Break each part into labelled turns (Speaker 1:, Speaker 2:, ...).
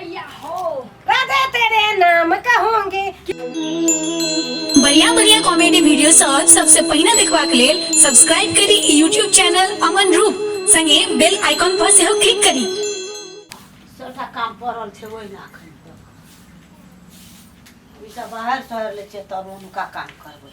Speaker 1: अय्या हो राधे तेरे नाम कहूंगी बढ़िया बढ़िया कॉमेडी वीडियो सब सबसे पहिने देखबाक लेल सब्सक्राइब करी ई यूट्यूब चैनल अमन रूप संगे बेल आइकॉन पर सेहो क्लिक करी सबटा काम पड़ल छै ओहि ना एखन तक ई सब बाहर शहर ले छै तब हुनका काम करबै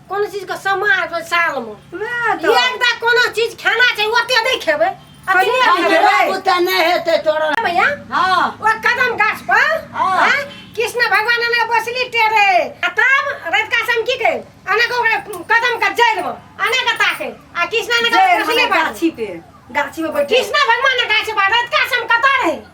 Speaker 1: कोनो चीज के समा आबि गेल साल में वएह तऽ। एक बार कोनो चीज खाना छै ओते नहि खेबै अति नहि हम खेबै हमरा बुते नहि हेतै तोरा भैया हँ ओ कदम गाछ पर हाँ। हाँ, कृष्ण भगवान ने बसली टेरे आ तब रविका से हम की कहे अने को ओकरा कदम का जड़ में अने का ताके आ कृष्ण ने जय बसली मने पर गाछी पे गाछी पे बैठे कृष्ण भगवान ने गाछ पर रविका से हम कता रहे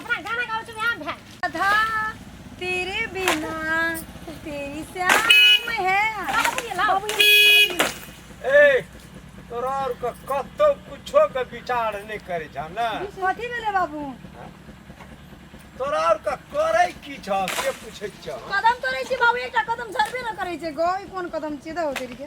Speaker 1: अपना गाना गाओ तुम यहाँ भैन राधा तेरे बिना तेरी श्याम है बाबू ये ए तोरा और क- कतो कुछो के विचार नहीं करे छ ना कथी भेलै बाबू तोरा और का करे की छ के पूछे छ कदम तोड़ै छी बाबू एकटा कदम झरबे न करै छै गौ ई कोन कदम छियै दौ तेरी के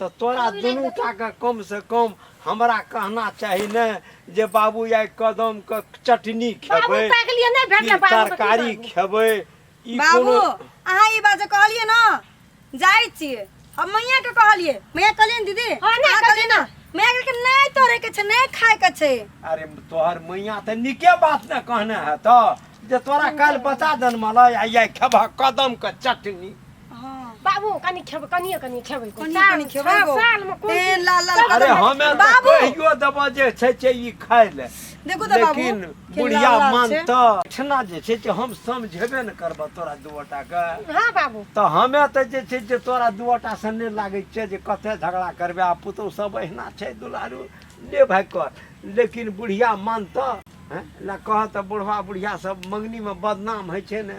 Speaker 1: तऽ तोरा दुनू टाके कमसँ कम हमरा कहना चाही ने जे बाबू आइ कदमके चटनी खेबै तरकारी खेबै बाबू अहाँ ई बात जे कहलियै ने जाइ छियै हम मैया के कहलियै मैया कहलियै दीदी हाँ, अहाँ कहलियै ना मैया कहलकै नहि तोरे के छै नहि खाय के छै अरे तोहर मैया तऽ निके बात ने कहने है तऽ जे तोरा काल्हि बता दन मलाई आ ये खेबह कदम के चटनी हाँ बाबू कनी खेबै कनिए कनिए खेबै कनिए साल- कनिए खेबै साल- गो। सालमे कोन तेल चीज- लाल लाल तब अरे हम तऽ बाबू। कहियो देबो जे छै छै ई खाय ले देखू तऽ बाबू लेकिन के बुढ़िया लाल लाल छै। मानतऽ ठना जे छै से हम समझेबे ने करबऽ तोरा दुआटा के हाँ बाबू तऽ हमे तऽ जे छै से तोरा दुआटा से नहि लागै छै जे कते झगड़ा करबे आ पुतहु सब एहिना छै दुलारू ले भाइ कर लेकिन बुढ़िया मानतऽ हैं? ला कहऽ तऽ बुढ़वा बुढ़िया सब मंगनीमे बदनाम होइ छै ने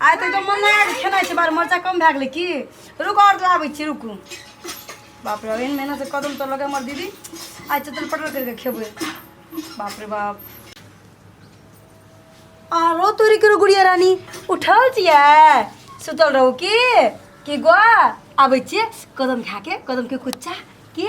Speaker 1: आइ तऽ एकदम मन लगा कऽ खेनाइ छै बार मरचा कम भए गेलै की रुक आओर लाबै छी रुकू बाप रे बाप, एहन मेहनत से कदम तोड़ लगे हमर दीदी आइ चटल पटल करिके खेबै बाप रे बाप आरो तोरी करो गुड़िया रानी उठल छियै सुतल रहू की की गो आबै छियै कदम खा के कदम के कुच्चा की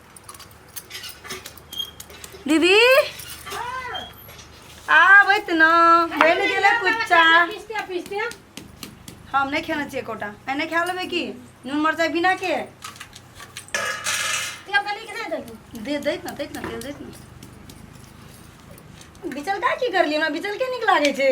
Speaker 1: दीदी आबैत न बनि गेलै कुच्चा पिस्ते पिस्ते हम नहीं खेना चाहिए कोटा मैं नहीं खा लेबे की नून मरचाई बिना के तेल कनी के दे दही दे दैत ना दैत ना तेल दैत ना बिचल का की करलियै हमरा बिचल के नीक लागै छै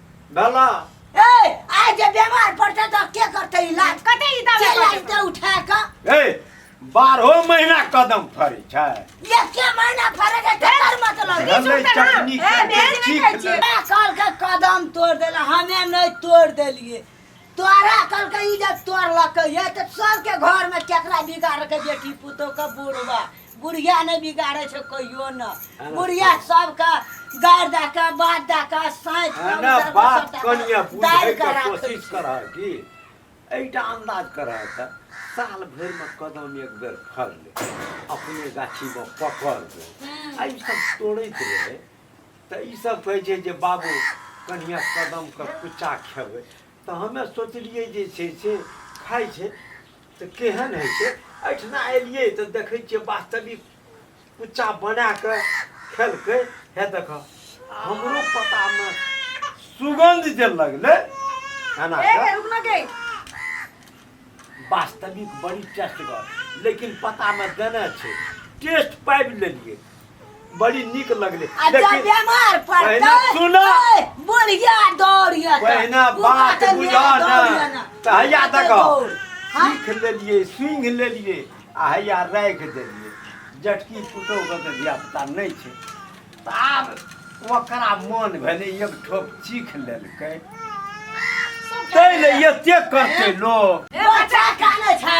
Speaker 1: डाला ए आइ जे बेमार पड़तै तऽ के करतै इलाज कते ई दाबे के करतै? लगतै उठा कऽ ए बारहो महीना कदम फरै छै एके महीना फरे के केकर मतलब बीच गंदै उठतै ना। चटनी ए, के बीच में चीख खाइ छियै। देलक। हमरा कहलकै कदम तोड़ देला हमे नहीं तोड़ देलिए तोरा कहलकै ई जब तोड़लकै ये तो सबके घर में केकरा बिगाड़ के बेटी पुतोह के बुढ़वा बुढ़िया नहि बिगाड़ै छै कहियो ने अरे बुढ़िया सबके गारि दए कऽ बात दए कऽ साँति कऽ अरे उधर बात सबटा कनिया कऽ दाबि बुझै कऽ के राखै कोशिश छै। करह की एहिटा अंदाज करह तऽ साल भरि में कदम एक बेर फड़ ले अपने गाछी में पकड़ ले आ ई सब तोड़ैत रहे तऽ ई सब कहै छै जे बाबू कनिया कदम के कुचा खेबै तऽ हमे सोचलियै जे छै से खाइ छै तऽ केहन होइ छै एहिठिना एलियै तऽ देखै छियै वास्तविक कुच्चा बना कऽ खेलकै हे देख हमरो पतामे सुगंध जे लगलै खाना ए, के रुक ना गई वास्तविक बड़ी टेस्टगर लेकिन पतामे देने छै टेस्ट पाबि लेलियै बड़ी निक लगले आ जब लेकिन बेमार पड़तै बहिना, सुनऽ। ए, बुढ़िया दौड़िया तऽ, बहिना तू बात बाटे बुझऽ मेरा ना दौड़िया ना। तऽ हैया तू बाटे देखो दौड़। हाँ? सीख लेलिए स्विंग लेलिए आ हैया राखि देलिए जटकी पुतौहके तऽ धियापुता नहि छै तऽ आब ओकरा मोन भेलै एक ठोप चीख लेलकै तै ले एतेक करतै लोक बच्चा कानै छै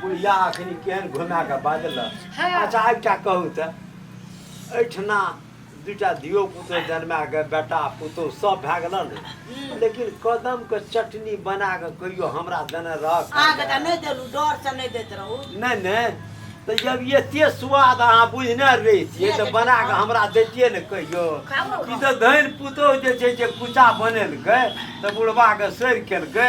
Speaker 1: बुढ़िया अखन केहन घुमा कऽ बाजलक हँ। अच्छा एकटा कहू तऽ एहिठिना दूटा धियो पुतो जन्मा कऽ बेटा पुतो सब भए गेल ने लेकिन कदमके चटनी बना कऽ कहियो हमरा देने रहक अहाँके तऽ नहि देलहुँ डरसँ नहि दैत रहू नहि नहि तऽ जब एते स्वाद अहाँ बुझने रहितियै तऽ बना कऽ हमरा दैतियै ने कहियो ई तऽ धनि पुतोह जे छै जे कुचा बनेलकै तऽ बुढ़बाके सड़ि केलकै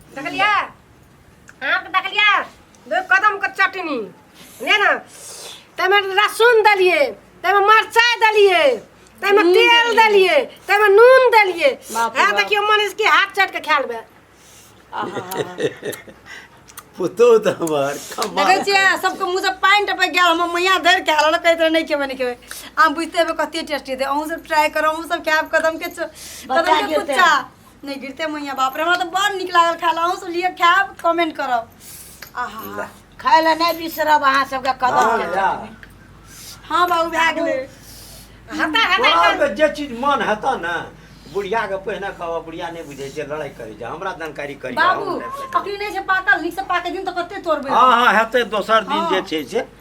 Speaker 1: देखलिया आम के देखलिया दो कदम के चटनी ने ना तमे लहसुन दलिए तमे मरचाई दलिए तमे नून तेल दलिए तमे नून दलिए बाप रे हां बाप। देखियो मन इसके हाथ चट के खाल बे पुतो त हमर कमाल देखै छियै सबके मुँह से पानि टपक गेल हमर मैया धरि के हाल कहैत रहे नहि खेबै नहि खेबै आम बुझते हेबै कते टेस्टी हेतै अहूँ सब ट्राई करू अहूँ सब खायब कदम के च- कदम के कुच्चा नहीं गिरते मैया बाप रे हमरा तो बड़ निक लागल खाए ला अहूँ सब लिए खाएब कमेंट करब आहा खाय ला नहीं बिसरब अहाँ सबके कदम के जा। हाँ बाबू भए गेलै हटा हटा बड़ा कर के जे चीज मन हेता ने बुढ़िया के पहिने कहबा बुढ़िया नहि बुझै छै लड़ाई करै छै हमरा जानकारी करी बाबू अखनी नहीं छै पाकल नीक से पाके दिन तो कते तोड़बै हँ हँ हेतै दोसर दिन जे छै से